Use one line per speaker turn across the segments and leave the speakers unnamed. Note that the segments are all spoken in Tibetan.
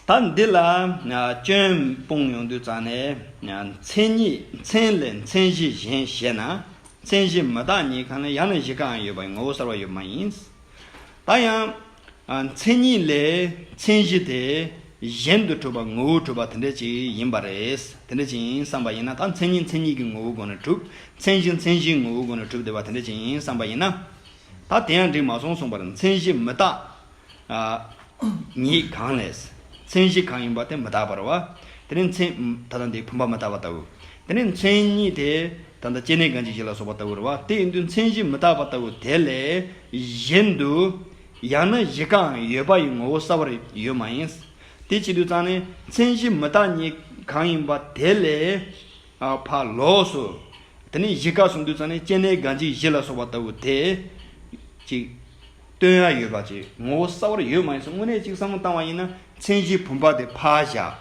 ད་འདི་ལ་སྐྱོན་སྤོང་ཡོང་དུས་ཙང་ནས་མཚན་ཉིད་མཚན་ལས་མཚན་གཞི་གཞན་བཤད་ན་མཚན་གཞི་མི་རྟག་ཉིད་གང་ན་ཡང་ན་གཞི་གང་ཡོད་པའི་ངོ་བོ་གསར་བ་ཡོད་མ་ཡིན། ད་ཡང། མཚན་ཉིད་ལས་མཚན་གཞི་དེ་གཞན་དུ་གྲུབ་པ་ངོ་བོ་གྲུབ་པ་དེ་འདྲ་ཅིག་ཡིན་པ་རེད། དེ་འདྲ་ཅིག་ཡིན་བསམ་པ་ཡིན་ན་ད་མཚན་ཉིད་མཚན་ཉིད་ཀྱི་ངོ་བོའི་སྒོ་ནས་གྲུབ་མཚན་གཞི་མཚན་གཞིའི་ངོ་བོའི་སྒོ་ནས་གྲུབ་བསྡད་པ་དེ་འདྲ་ཅིག་ཡིན་བསམ་པ་ཡིན་ན། ད་དེ་ཡང་འགྲིག་མ་སོང་གསུངས་པར་མཚན་གཞི་མི་རྟག་ཉིད་གང་ལས། མཚན་གཞི་གང་ཡིན་པ་དེ་མི་རྟག་པར་བ། དེ་ནི་མཚན། ད་ལྟ་འདི་བུམ་པ་མི་རྟག་པ་ལྟ་བུ། དེ་ནི་མཚན་ཉིད་དེ། ད་ལྟ་སྐྱེ་གནས་གང་ཅི་བཞི་ལ་སོགས་པ་ལྟ་བུར་བ། དེ་ཡིན་དུས་མཚན་གཞི་མི་རྟག་པ་ལྟ་བུ་དེ་ལས་གཞན་དུ། ཡང་ན་གཞི་གང་ཡོད་པ་ཡི་ངོ་བོ་གསལ་བར་ཡོད་མ་ཡིན། དེ་ཅི་དུས་ཙང་ནི་མཚན་གཞི་མི་རྟག་ཉིད་གང་ཡིན་པ་དེ་ལས། ཕ། ལོགས་སུ། དེ་ནི་གཞི་ག་སོང་དུས་ཙང་ནི་སྐྱེ་གནས་གང་ཅི་བཞི་ལ་སོགས་པ་ལྟ་བུ་དེ། གཅིག། སྟོན་ཡ་ཡོད་པ་བཅས་ངོ་བོ་གསར་བར་ཡོད་མ་ཡིན་སོགས་དངོས་གནས་གཅིག་བསམ་བློ་བཏང་བ་ཡིན་ན་མཚན་གཞིའི་བུམ་པ་དེ་ཕར་བཞག།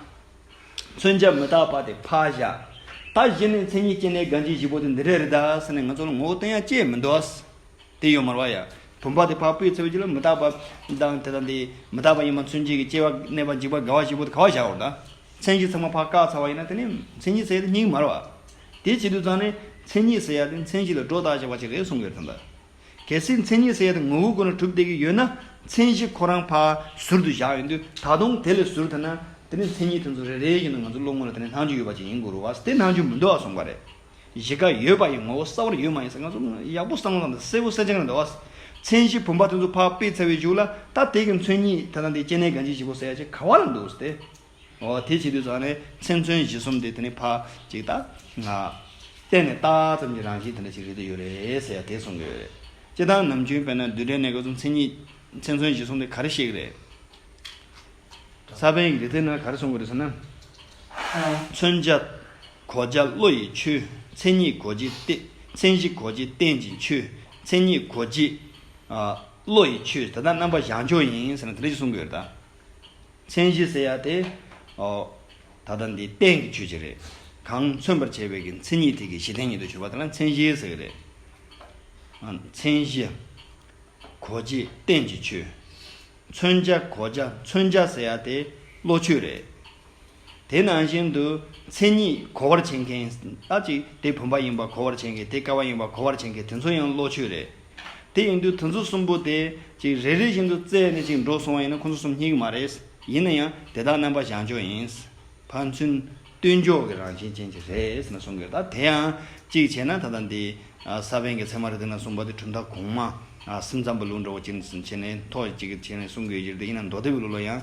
མཚོན་བྱ་མི་རྟག་པ་དེ་ཕར་བཞག། ད་གཞི་ནས་མཚན་ཉིད་སྐྱེ་གནས་རྒ་འཇིགས་བཞི་པོ་དེ་འདི་འདྲ་རེད་ད་ཟེར་ནས་ང་ཚོ་ལ་ངོ་བོ་སྟོན་ཡ་བཅས་མི་འདུག་ཨཱ། དེ་ཡོད་མ་རོགས་ཡ། བུམ་པ་དེ་ཕར་སྤོས་ཚེ་བའི་རྒྱུ་ལ་མི་རྟག་པ། དང་དེ་དང་དེ། མི་རྟག་པ་ཡིན་པ་མཚོན་བྱེད་ཀྱི་སྐྱེ་བ་གནས་པ་འཇིག་པ་རྒ་བ་བཞི་པོ་དེ་ག་བ་བཞག་རོགས་ད། མཚན་གཞི་ཚང་མ་ཕར་བཀག་ཚར་བ་ཡིན་ན་དེ་ནས་མཚན་ཉིད་ཟེར་ཡ་དེ་སྙིགས་མ་རོགས་ཨཱ། དེ་བྱེད་དུས་ཚང་ནས་མཚན་ཉིད་ཟེར་ཡ་དེ་མཚན་གཞི་ལ་སྒྲོ་བཏགས་བྱས་པ་ཅིག་རེད་གསུང་གི་རེད་དམ་ད། གལ་སྲིད་མཚན་ཉིད་ཟེར་ཡ་དེ་ངོ་བོ་དགོས་ན་གྲུབ་བསྡད་ཀྱི་ཡོད་ན་མཚན་གཞི་ཁོ་རང་ཕ་ཟུར་དུ་བཞག་ཡོད་དུས་ད་དུང་དེ་ལས་ཟུར་ཐོན་ན་དེ་ནི་མཚན་ཉིད་དེ་ཚོ་རེ་རེའི་ཡིན་ན་ང་ཚོ་བློ་ངོ་ལ་དེ་ནི་སྣང་ཆུང་ཡོད་པ་ཅིག་ཡིན་དགོས་རུང་བ་དེ་སྣང་ཆུང་མི་འདུག་ཨ་སོང་བ་རེད། གཞི་རྐ་ཡོད་པ་ཡི་ངོ་བོ་གསར་བར་ཡོད་མ་ཡིན་ས་ང་ཚོ་ཡག་པོ་བསམ་བློ་དང་གསལ་བོ་གསལ་ཆ་གང་འདྲ་བ། མཚན་གཞི་བུམ་པ་དེ་ཚོ་ཕག་པས་འཚལ་བའི་གཞུག་ལ་ད་དེ་གི་མཚོན་ཉིད་དེ་དང་དེ་སྐྱེ་གནས་གང་ཅི་བཞི་པོ་ཟེར་ཡ་ཆེ་ག་བ་ལ་འདུག་སྟེ། དེ་བྱེད་དུས་ནི་མཚན་མཚོན་གཞི་གསུམ་དེ་དེ་ནི་ཕ་གཅིག་ད་ང། བལྟས་ནས་ལྟ་ཙམ་གྱི་རང་བཞིན་དེ་འདྲ་ཞིག་རེད་དུ་ཡོད་རེད་ཟེར་ཡ་དེ་གསུང་གི་ཡོད་རེད། སྤྱི་བཏང་ནམ་རྒྱུན་དཔེར་ན་བསྡུས་གྲྭའི་གནས་སྐབས་སུ་མཚན་ཉིད། མཚན་མཚོན་གཞི་གསུམ་དེ་ག་རེ་བཤད་གི་རེད། ས་པཎ་གྱི་རིག་རྩལ་ནང་ག་རེ་གསུང་གི་རེད་ཟེར་ན། མཚོན་བྱ། གོ་བྱ་བློ་ཡི་ཆུ། མཚན་ཉིད་གོ་བྱེད། མཚན་གཞི་གོ་བྱེད་རྟེན་གྱི་ཆུ། མཚན་ཉིད་གོ་བྱེད། བློ་ཡི་ཆུ། དེ་དག་རྣམ་པ་བཞག་འཇོག་ཡིན་ཟེར་ན་དེ་འདྲ་ཞིག་གསུང་གི་ཡོད་རེད་ད། མཚན་གཞི་ཟེར་ཡ་དེ། ད་ལྟ་འདི་གཏན་གྱི་ཆོས་ཅིག་རེད། གང་མཚོན་པར་བྱས་པའི་གི་མཚན་ཉིད་དེ་གི་གཞི་གཏན་ཉིད་དུ་གྱུར་པ་དེ་ལ་མཚན་གཞི་ཟེར་གྱི་རེད། མཚན་གཞི། གོ་བྱེད་གཏན་གྱི་ཆོས། མཚོན་བྱ་གོ་བྱ་མཚོན་བྱ་ཟེར་ཡ་དེ་བློ་ཆོས་རེད། དེ་ནང་བཞིན་དུ་མཚན་ཉིད་གོ་བར་བྱེད་མཁན་ལྟ་ཅི་དེ་བུམ་པ་ཡིན་པར་གོ་བར་བྱེད་མཁན་དེ་ཀ་བ་ཡིན་པར་གོ་བར་བྱེད་མཁན་དེ་ཚོ་ཡང་བློ་ཆོས་རེད། དེ་ཡིན་དུས་དེ་ཚོ་གསུམ་པོ་དེ་ཅིག་རེ་རེ་བཞིན་དུ་བཙལ་ནས་ཅིག་འགྲོ་སོང་བ་ཡིན་ན་ཁོ་ཚོ་གསུམ་གཉིས་ཀྱི་མ་རེད། ཡིན་ན་ཡང་དེ་དག་རྣམ་པ་བཞག་འཇོག་ཡིན། ཕར་ཚུན་བསྟུན་འཇོག་གི་རང་བཞིན་ཅན་ཅིག་རེད་ན་གསུང་དགོས་ད་དེ་ཡང་ཅིག་བྱས་ན་ད་ལྟ་འདི་ས་བོན་གྱི་ཚད་མ་རེད་འདི་ན་གསུངས་པ་དེ་གྲུབ་མཐའ་གོང་མ་སེམས་ཙམ་པོ་ལུགས་འདྲ་བོ་ཅིག་བྱས་ནས་ཐོག་ཅིག་བྱས་ནས་གསུང་དགོས་ཡོད་ཀྱི་རེད་འདི་ཡིན་ན་མདོ་སྡེ་བའི་ལུགས་ལ་ཡང།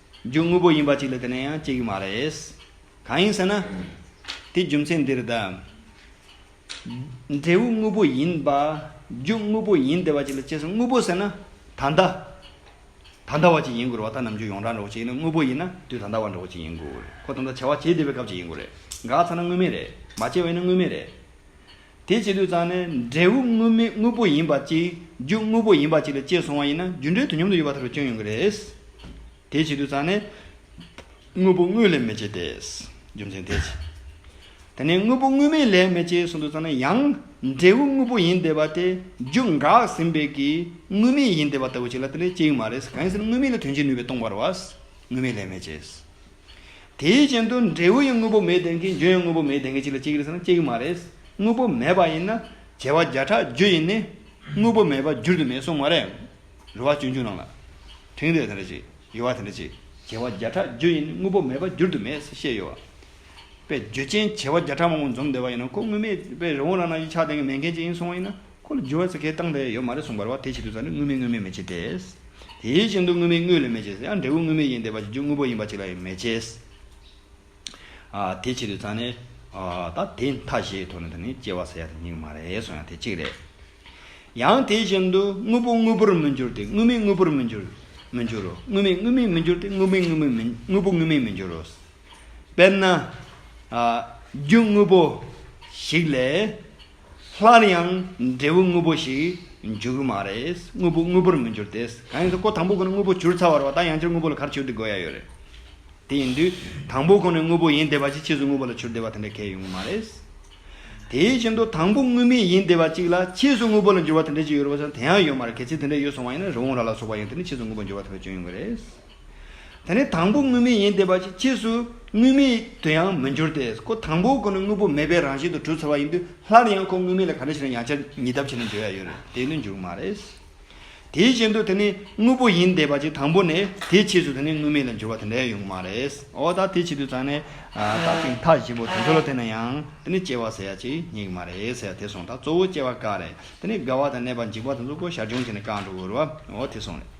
རྒྱུ་དངོས་པོ་ཡིན་པ་ཅིག་ལ་དེ་ནས་ཡང་སྐྱེ་གི་མ་རེད། གང་ཡིན་ཟེར་ན། དེའི་རྒྱུ་མཚན་འདིར་གདའ། འབྲས་བུ་དངོས་པོ་ཡིན་པ། རྒྱུ་དངོས་པོ་ཡིན་བདེ་བ་ཅིག་ལ་སྐྱེས་སོ་དངོས་པོ་ཟེར་ན། ད་ལྟ། ད་ལྟ་བ་ཅིག་ཡིན་དགོས་རེད་བ་ད་ནམ་རྒྱུ་ཡོངས་གྲགས་འདྲ་བོ་ཅིག་ཡིན་ན་དངོས་པོ་ཡིན་ན་དུས་ད་ལྟ་བ་འདྲ་བོ་ཅིག་ཡིན་དགོས་རེད་ཁོ་ད་ལྟ་བྱ་བ་བྱེད་བདེ་བའི་སྐབས་ཅིག་ཡིན་དགོས་རེད་འགག་ཚར་ན་དངོས་མེད་རེད་མ་བྱས་བས་ན་དངོས་མེད་རེད། དེ་བྱེད་དུས་ཙང་ནས་འབྲས་བུ་དངོས་མེད་དངོས་པོ་ཡིན་པ་གཅིག་རྒྱུ་དངོས་པོ་ཡིན་པ་གཅིག་ལ་སྐྱེས་སོང་བ་ཡིན་ན་རྒྱུ་འབྲས་དུས་མཉམ་དུ་ཡོད་པ་ལྟར་དུ་སྐྱོན་ཡོང་གི་རེད། དེ་བྱེད་དུས་ཙང་ནས། དངོས་པོ་དངོས་ལས་མེད་ཅེས་ཏེ། རྒྱུ་མཚན་དེ་བྱེད། དེ་ནས་དངོས་པོ་དངོས་མེད་ལས་མེད་ཅེས་གསུངས་དུས་ཙང་ནས་ཡང། འབྲས་བུ་དངོས་པོ་ཡིན་བསྡད་པ་དེ་རྒྱུ་འགགས་ཟིན་པས་ཀྱི་དངོས་མེད་ཡིན་བསྡད་པ་ལྟ་བུ་ཅིག་ལ་དེ་ལས་སྐྱེ་ཡི་མ་རེད། གང་ཡིན་ཟེར་ན་དངོས་མེད་ལ་དོན་བྱེད་ནུས་པའི་སྟོང་པར་བ། དངོས་མེད་ལས་མེད་ཅེས། དེའི་རྐྱེན་དུ་འབྲས་བུ་ཡི་དངོས་པོ་མེད་ལྡན་གྱི་འབྱུང་བའི་དངོས་པོ་མེད་ལྡན་གྱི་གཅིག་ལ་གཅིག་གིས་ཟེར་ན་གཅིག་མ་རེད། དངོས་པོ་མེད་པ་ཡིན་ན་བྱེ་བ་བརྒྱ་ཕྲག་བརྒྱུད་ཡིན་ནི། དངོས་པོ་མེད་པ་བརྒྱུད་དུ་མེད་གསུངས་མ་རེད། རུ་བ་སྤྱོད་འཇུག་ནང་ལ། དེང་འདིར་དེ་འདྲ་གཅིག། ཡོད་བ་དེ་འདྲ་གཅིག། བྱེ་བ་བརྒྱ་ཕྲག་བརྒྱུད་ཡིན་ནི་དངོས་པོ་མེད་པ་བརྒྱུད་དུ་མེད་ཟེར་བཤད་ཡོད། བས་རྒྱུ་རྐྱེན་བྱེ་བ་བརྒྱ་ཕྲག་མང་པོ་འཛོམས་བསྡད་པ་ཡིན་ན་ཁོ་དངོས་མེད་བས་རི་བོང་རྭ་ནག་གི་ཆགས་ལྡན་གྱི་མེད་མཁན་གཅིག་ཡིན་གསུངས་བ་ཡིན་ན། ཁོ་ལ་རྒྱུ་བ་ཚེ་གེ་བཏང་བས་ཡོད་མ་རེད་གསུངས་པར་བ་དེའི་ཆེད་དུ་ས་ནི་དངོས་མིན་དངོས་མེད་མེད་ཅེས་འདས། དེའི་སྤྱི་མདོ་དངོས་མིན་དངོས་ལས་མེད་ཅེས་ཡང་འབྲས་བུ་དངོས་མེད་ཡིན་འདས་པ་གཅིག་རྒྱུ་དངོས་པོ་ཡིན་པ་གཅིག་ལ་ཡང་མེད་ཅེས། དེའི་ཆེད་དུ་ས་ནི། ད་དེ་མཐའ་བཞི་ཡི་ཐོག་ནས་དེ་ནི་སྐྱེ་བ་ས་ཡ་དང་གཉིས་ཀ་མ་རེད་གསུངས་ཡང་དེ་གཅིག་རེད། ཡང་དེའི་བཞིན་དུ་དངོས་པོ་དངོས་པོར་མི་འགྱུར་ཏེ་དངོས་མེད་དངོས་པོར་མི་འགྱུར། མི་འགྱུར་རོ། དངོས་མེད་དངོས་མེད་མི་འགྱུར་ཏེ་དངོས་མེད་དངོས་མེད་མི་དངོས་པོ་དངོས་མེད་མི་འགྱུར་རོ། དཔེར་ན། རྒྱུ་དངོས་པོ་ཞིག་ལས། སླར་ཡང་འབྲས་བུ་དངོས་པོ་ཞིག་འབྱུང་གི་མ་རེད། དངོས་པོ་དངོས་པོར་མི་འགྱུར་ཏེ། གང་ཡིན་ཟེར་ཀོ་དང་པོ་ཁོ་ནས་དངོས་པོ་གྱུར་ཚར་བ་རེད་བ་ད་ཡང་སྤྱིར་དངོས་པོ་ལ་གར་བྱུར་བསྡུ་དགོས་ཡ་ཡོད་རེད། དེ་ཡིན་དུས་དང་པོ་ཁོ་ནས་དངོས་པོ་ཡིན་བསྡད་པ་ཅིག་ཕྱིས་སུ་དངོས་པོ་ལ་བྱུར་བསྡད་པ་དེ་འདྲ་ཁས་ཡོང་གི་མ་རེད། དེ་བཞིན་དུ་དང་པོ་དངོས་མེད་ཡིན་བསྡད་པ་ཅིག་ལ་ཕྱིས་སུ་དངོས་པོ་ལ་འགྱུར་བ་དེ་འདྲ་ཅིག་ཡོད་རེད་བ་ཞེ་ན་དེ་ཡང་ཡོད་མ་རེད་གལ་སྲིད་དེ་འདྲ་ཡོད་སོང་བ་ཡིན་ན་རི་བོང་རྭ་ལ་སོགས་པ་ཡང་དེ་ནས་ཕྱིས་སུ་དངོས་པོ་འགྱུར་བ་དེ་འདྲ་བྱུང་ཡོང་གི་རེད། དེ་ནི་དང་པོ་དངོས་མེད་ཡིན་ཏེ་བ་ཅིག་ཕྱིས་སུ་དངོས་མེད་དུ་ཡང་མི་འགྱུར་ཏེ་ཁོ་དང་པོ་ཁོ་ནི་དངོས་པོ་མེད་པའི་རང་བཞིན་དུ་གྲུབ་ཚར་བ་ཡིན་དུས་སླར་ཡང་ཁོ་དངོས་མེད་ལ་ག་འདྲ་ཞིག་ན་ཡང་ཆ་ཉིད་ཐབས་ཆེ་ན་འཇོག་ཡ་ཡོད་རེད་དེ་ནི་འགྱུར་མ་རེད། དེའི་བཞིན་དུ་དེ་ནི་དངོས་པོ་ཡིན་ཏེ་བ་ཅིག་དང་པོ་ནས་དེའི་ཕྱིས་སུ་དེ་ནི་དངོས་མེད་ལ་འགྱུར་བ་དེ་འདྲ་ཡང་ཡོང་གི་མ་རེད། འོ་ད་དེའི་ཕྱིས་དུས་ཙང་ནས་བརྟགས་པའི་མཐའ་བཞི་པོ་དེ་ཚོ་ལ་བལྟས་ན་ཡང་དེ་ནི་སྐྱེ་བ་ཟེར་ཡ་ཅིག་རྙེད་གི་མ་རེད་ཟེར་ཡ་དེ་སོང་ད་གཙོ་བོ་སྐྱེ་བ་ཀ་རེད་དེ་ནི་རྒ་བ་དང་ནད་པ་འཇིག་པ་དེ་ཚོ་ཀོ་བཞག་སྦྱོང་བྱས་ནས་ཀ་འགྲོ་དགོས་རུ་བ་འོ་དེ་སོང་རེད།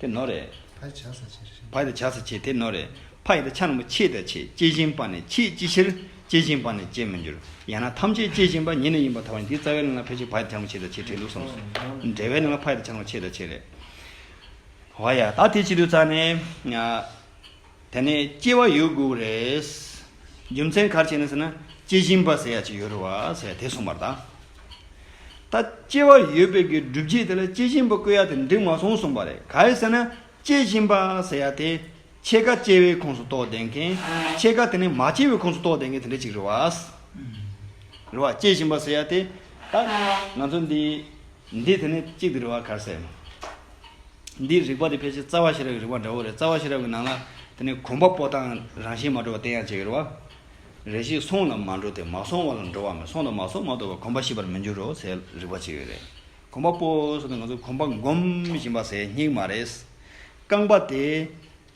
དེ་ནོར་རེད། ཕ་ཡི་བྱ་ས་ཆེ་རེད། ཕ་ཡི་བྱ་ས་ཆེ་དེ་ནོར་རེད། ཕ་ཡི་ཆ་ན་མོ་ཆེས་དང་ཆེས་སྐྱེས་བཞིན་པ་ནས་ཆེས་ཅི་ཕྱིར་སྐྱེས་བཞིན་པ་ནས་སྐྱེས་མི་འགྱུར། ཡང་ན་ཐམས་ཅད་སྐྱེས་བཞིན་པ་ཉིད་ནས་ཡིན་པ་དང་བ་ཡིན་དེའི་རྩ་བའི་ལན་ལ་ཕལ་ཆེར་ཕ་ཡི་ཆ་ན་མོ་ཆེས་དང་ཆེས་བྲལ་ལུགས་སོམས་སོ། འབྲེལ་བའི་ལན་ལ་ཕ་ཡི་ཆ་ན་མོ་ཆེས་དང་ཆེས་རེད། བ་ཡ། ད་དེ་ཅི་དུས་རྩ་ནས། དེ་ནས་སྐྱེ་བ་ཡོད་དགུ་རེད། རྒྱུ་མཚན་གར་བྱས་ནས་ཟེར་ན་སྐྱེ་བཞིན་པ་ཟེར་ཡ་གཅིག་ཡོད་རེད་བ་ཟེར་དེ་གསུངས་པར་གདའ། ད་སྐྱེ་བ་ཡོད་པའི་གི་སྒྲུབ་བྱེད་དེ་ལ་སྐྱེ་བཞིན་པ་བཀོད་ཡ་དེ་འགྲིག་མ་སོང་གསུངས་པ་རེད་ག་ཡི་ཟེར་ན་སྐྱེ་བཞིན་པ་ཟེར་ཡ་དེ་ཕྱེད་ཀ་སྐྱེ་བའི་ཁོངས་སུ་གཏོགས་བསྡད་མཁན་ཕྱེད་ཀ་དེ་ནས་མ་སྐྱེ་བའི་ཁོངས་སུ་གཏོགས་བསྡད་མཁན་དེ་འདྲ་གཅིག་རེད་བ། རེད་བ། སྐྱེ་བཞིན་པ་ཟེར་ཡ་དེ་ད་ང་ཚོ་འདི། འདི་དེ་ནས་གཅིག་འདི་རི་བ་གར་སའི། འདི་རིག་པ་འདི་ཕལ་ཆེར་རྩ་བ་ཤེས་རབ་ཀྱི་རིག་པ་འདྲ་བོ་རེད་རྩ་བ་ཤེས་རབ་ཀྱི་ནང་ལ་དེ་ནས་གོམས་པ་པོ་དང་རང་བཞིན་མ་འགྲོ་བ་བསྟན་ཡང་ཅི་ཡོད་རེད་བ། རེ་ཞིག་སོང་ལ་མ་འགྲོ་སྟེ་མ་སོང་བ་ལ་འགྲོ་བ་མེད་སོང་དང་མ་སོང་མ་གཏོགས་པར་གོམས་པ་ཤེས་པར་མི་འགྱུར་རོ་སའི་རིག་པ་ཅི་ཡོད་རེད། གོམས་པ་པོ་སོང་སྟེ་ང་ཚོ་གོམས་པ་སྒོམ་བཞིན་པ་སའི་སྙིགས་མ་རེད། རྐང་པ་དེ།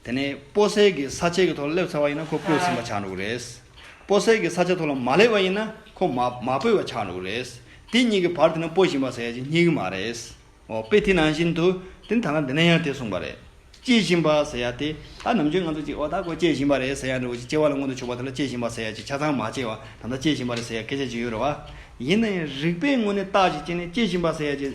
དེ་ནས་སྤོ་སེ་གི་ས་ཆའི་གི་ཐོག་ལ་སླེབས་ཚར་བ་ཡིན་ན་ཁོ་སྤོས་ཟིན་པ་ཆགས་འགྲོ་གི་རེད། སྤོ་སེ་གི་ས་ཆ་ཐོག་ལ་མ་སླེབས་བ་ཡིན་ན་ཁོ་མ་མ་སྤོས་བ་ཆགས་འགྲོ་གི་རེད། དེ་གཉིས་ཀྱི་བར་དེ་ནི་སྤོ་བཞིན་པ་ཟེར་ཡ་ཅིག་རྙེད་གི་མ་རེད། འོ་དཔེ་དེ་ནང་བཞིན་དུ་དེ་ད་ལ་འདི་ནས་ཡང་དེ་གསུངས་པ་རེད། སྐྱེས་བཞིན་པ་ཟེར་ཡ་དེ་ད་ནམ་རྒྱུན་ང་ཚོ་ཅིག་འོ་ད་ཁོ་སྐྱེས་བཞིན་པ་རེད་ཟེར་ཡ་འདྲ་བོ་ཅིག་སྐྱེ་བ་ལ་མངོན་དུ་ཕྱོགས་པ་དེ་ལ་སྐྱེས་བཞིན་པ་ཟེར་ཡ་ཅིག་ཆ་ཚང་མ་སྐྱེས་བ་ད་ལྟ་སྐྱེས་བཞིན་པ་རེད་ཟེར་ཡ་སྐད་ཆ་ཅིག་ཡོད་རེད་བ། ཡིན་ན་ཡང་རིག་པའི་ངོས་ནས་བརྟག་ཅིག་སྐྱེས་ནས་སྐྱེས་བཞིན་པ་ཟེར་ཡ་ཅིག།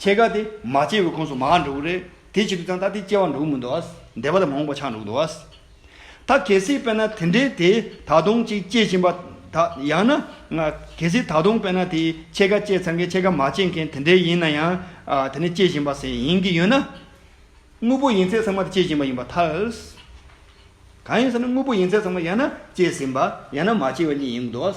ཁྱེད་ག་དེ་མ་སྐྱེ་བའི་ཁོངས་སུ་མ་འགྲོ་གི་རེད་དེ་བྱེད་དུས་ཙང་ད་དེ་སྐྱེ་བ་འགྲོ་གི་མི་འདུག་འདས་པ་ལ་མོངས་པ་ཆགས་འགྲོ་གི་འདུག་ད་གལ་སྲིད་དཔེར་ན་དེ་འདྲའི་དེ་ད་དུང་ཅིག་སྐྱེ་བཞིན་པ་ད་ཡང་ན། གལ་སྲིད་ད་དུང་དཔེར་ན་དེ་ཁྱེད་ག་སྐྱེ་ཚར་མཁན་ཁྱེད་ག་མ་སྐྱེ་མཁན་དེ་འདྲའི་ཡིན་ན་ཡང་དེ་ནི་སྐྱེ་བཞིན་པ་ཟེར་ཡིན་གྱི་ཡོད་ན། དངོས་པོ་ཡིན་ཚད་ཚང་མ་དེ་སྐྱེ་བཞིན་པ་ཡིན་པར་ཐལ། གང་ཡིན་ཟེར་ན་དངོས་པོ་ཡིན་ཚད་ཚང་མ་ཡང་ན་སྐྱེ་ཟིན་པ་ཡང་ན་མ་སྐྱེ་བ་གཉིས་ཡིན་གྱི་འདུག།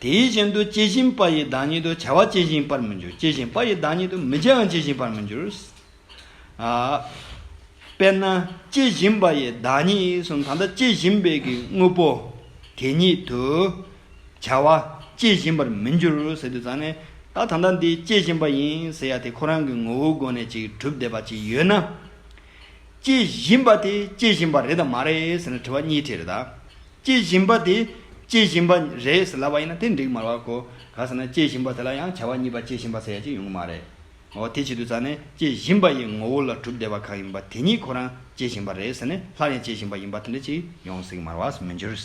དེའི་བཞིན་དུ་སྐྱེ་བཞིན་པ་ཡི་བདག་ཉིད་དུ་བྱ་བ་སྐྱེ་བཞིན་པར་མི་འགྱུར་སྐྱེ་བཞིན་པ་ཡི་བདག་ཉིད་དུ་མི་བྱའང་སྐྱེ་བཞིན་པར་མི་འགྱུར། དཔེར་ན་སྐྱེ་བཞིན་པ་ཡི་བདག་ཉིད་གསུམ་གང་དག་སྐྱེ་བཞིན་པའི་གི་དངོས་པོ་དེ་ཉིད་དུ་བྱ་བ་སྐྱེ་བཞིན་པར་མི་འགྱུར་ཟེར་དུས་ཙང་ནས་ད་ད་ལྟ་འདི་སྐྱེ་བཞིན་པ་ཡིན་ཟེར་ཡ་དེ་ཁོ་རང་གི་ངོ་བོའི་སྒོ་ནས་ཅིག་གྲུབ་བསྡད་པ་ཅིག་ཡོད་ན། སྐྱེ་བཞིན་པ་དེ་སྐྱེ་བཞིན་པ་རེད་དམ་མ་རེད་ཟེར་ན་དྲི་བ་གཉིས་དྲིས་རེད་དཱ། སྐྱེ་བཞིན་པ་དེ་སྐྱེ་བཞིན་པ་རེད་ཟེར་ལབ་པ་ཡིན་ན་དེ་འགྲིག་མ་རེད་གོ། གང་ཟེར་ན་སྐྱེ་བཞིན་པ་དེ་ལ་ཡང་བྱ་བ་གཉིས་པ་སྐྱེ་བཞིན་པ་ཟེར་ཡ་གཅིག་ཡོང་གི་མ་རེད། འོ་དེ་བྱེད་དུས་ཙང་ནས་སྐྱེ་བཞིན་པ་ཡི་ངོ་བོ་ལ་གྲུབ་བདེ་བ་གང་ཡིན་པ་དེ་ཉིད་ཁོ་རང་སྐྱེ་བཞིན་པ་རེད་ཟེར་ནས་སླར་ཡང་སྐྱེ་བཞིན་པ་ཡིན་པ་དེ་འདྲ་གཅིག་ཡོང་སྲིད་ཀྱི་མ་རེད་བ་སུ་མི་འགྱུར།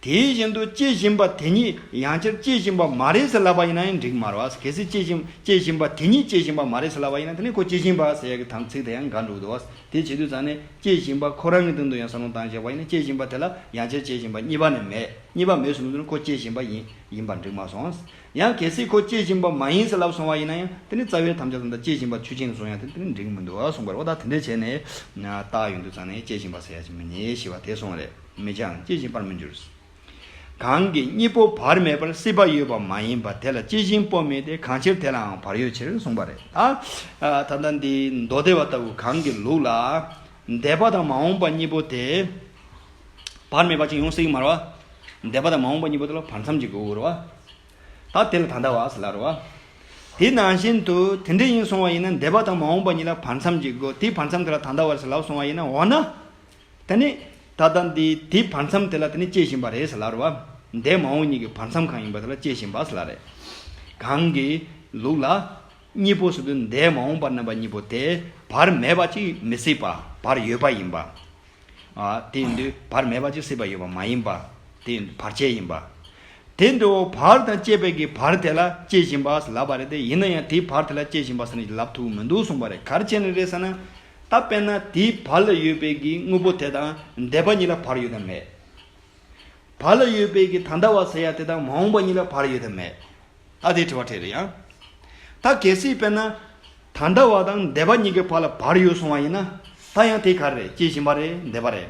དེ་བཞིན་དུ་སྐྱེ་བཞིན་པ་དེ་ཉིད་ཡང་སྤྱིར་སྐྱེ་བཞིན་པ་མ་རེད་ཟེར་སླ་བ་ཡིན་ན་ཡང་འགྲིག་མ་རོ། གལ་སྲིད་སྐྱེ་བཞིན་པ་དེ་ཉིད་སྐྱེ་བཞིན་པ་མ་རེད་ཟེར་སླ་བ་ཡིན་ན་དེ་ནི་ཁོ་སྐྱེ་བཞིན་པ་ཟེར་ཡ་གི་དམ་ཚིག་དེ་ཡང་འགའ་འགྲུབ་འདུག་བ། དེ་བྱེད་དུས་ཙང་ནས་སྐྱེ་བཞིན་པ་ཁོ་རང་གི་མདུན་དུ་ཡང་ས་ལུང་བཏང་བཞག་པ་ཡིན་ན་སྐྱེ་བཞིན་པ་དེ་ལ་ཡང་སྤྱིར་སྐྱེ་བཞིན་པ་གཉིས་པ་ནི་མེད་གཉིས་པ་མེད་ཟེར་མི་འདུག་ན་ཁོ་སྐྱེ་བཞིན་པ་ཡིན་ཡིན་པར་འགྲིག་མ་སོང། ཡང་གལ་སྲིད་ཁོ་སྐྱེ་བཞིན་པ་མ་ཡིན་ཟེར་སླ་བ་སོང་བ་ཡིན་ན་ཡང་དེ་ནི་རྩ་བའི་དམ་བཅའ་ཙམ་དང་སྐྱེ་བཞིན་པ་ཆུ་ཆེན་གྱི་ཟུངས་ཡང་དེ་ནི་འགྲིག་མི་འདུག་གསུངས་པ་རེད། འོ་ད་དེ་འདྲ་བྱས་ནས་རྟགས་ཡོང་དུས་ཙང་ནས་སྐྱེ་བཞིན་པ་ཟེར་ཡ་ཅིག་མི་རྙེད་ཞེས་པ་དེ་སོང་བ་རེད། མི་བྱའང་སྐྱེ་བཞིན་པར་མི་འགྱུར། གང་གིས་གཉིས་པོ་བར་མེད་པར་སྲིད་པ་ཡོད་པ་མ་ཡིན་པ་དེ་ལ་སྐྱེ་བཞིན་པོ་མེད་དེ་གང་ཕྱིར་དེ་ལའང་བར་ཡོད་ཕྱིར་གསུངས་པ་རེད། ད་ལྟ་འདི་མདོ་སྡེ་བ་ལྟ་བུ་གང་གི་ལུགས་ལ། འདས་པ་དང་མ་འོངས་པ་གཉིས་པོ་དེ། བར་མེད་པ་ཅིག་ཡོང་སྲིད་ཀྱི་མ་རོ། འདས་པ་དང་མ་འོངས་པ་གཉིས་པོ་དེ་ལ་བར་མཚམས་ཀྱི་དགོས་རོ། ད་དེ་ལ་ད་ལྟ་བ་ལ་རོ། དེ་ནང་བཞིན་དུ་དེ་འདྲ་ཡིན་གསུང་བ་ཡིན་ན་འདས་པ་དང་མ་འོངས་པ་གཉིས་ལ་བར་མཚམས་ཀྱི་དགོས་དེའི་བར་མཚམས་དེ་ལ་ད་ལྟ་བ་ལ་གསུང་བ་ཡིན་ན་འོ་ན། དེ་ནི་ད་ལྟ་འདི་དེའི་བར་མཚམས་དེ་ལ་དེ་ནི་སྐྱེ་བཞིན་པ་རེད་ཟེར་ལར་བ། འདས་མ་འོངས་གཉིས་ཀྱི་བར་མཚམས་གང་ཡིན་པ་དེ་ལ་སྐྱེ་བཞིན་པ་ཟེར་ལ་རེད། གང་གི་ལུགས་ལ། གཉིས་པོ་ཟེར་དུས་འདས་མ་འོངས་པ་རྣམ་པ་གཉིས་པོ་དེ་བར་མེད་པ་ཅིག་མི་སྲིད་པ་བར་ཡོད་པ་ཡིན་པ། དེ་ཡིན་དུས་བར་མེད་པ་ཅིག་སྲིད་པ་ཡོད་པ་མ་ཡིན་པ། དེ་ཡིན་དུས་བར་ཆད་ཡིན་པ། དེ་འདྲ་བོ་བར་དང་བཅས་པའི་གི་བར་དེ་ལ་སྐྱེ་བཞིན་པ་ཟེར་ལབ་པ་རེད་དེ་ཡིན་ན་ཡང་དེའི་བར་དེ་ལ་སྐྱེ་བཞིན་པ་ཟེར་ནི་ལབ་ཐུབ་མི་འདུག་གསུངས་པ་རེད་གར་བྱས་ནས་རེད་ཟེར་ན། ད་དཔེར་ན་དེའི་བར་ལ་ཡོད་པའི་གི་དངོས་པོ་དེ་དང་འདས་པ་གཉིས་ལ་བར་ཡོད་དམ་མེད། བར་ལ་ཡོད་པའི་གི་ད་ལྟ་བ་ཟེར་ཡ་དེ་དང་མ་འོངས་པ་གཉིས་ལ་བར་ཡོད་དམ་མེད། ད་དེའི་དྲི་བ་འཕྲད་རེད་ཡ། ད་གལ་སྲིད་དཔེར་ན། ད་ལྟ་བ་དང་འདས་པ་གཉིས་ཀྱི་བར་ལ་བར་ཡོད་སོང་བ་ཡིན་ན། ད་ཡང་དེ་ག་རེད་སྐྱེ་བཞིན་པ་རེད་འདས་པ་རེད།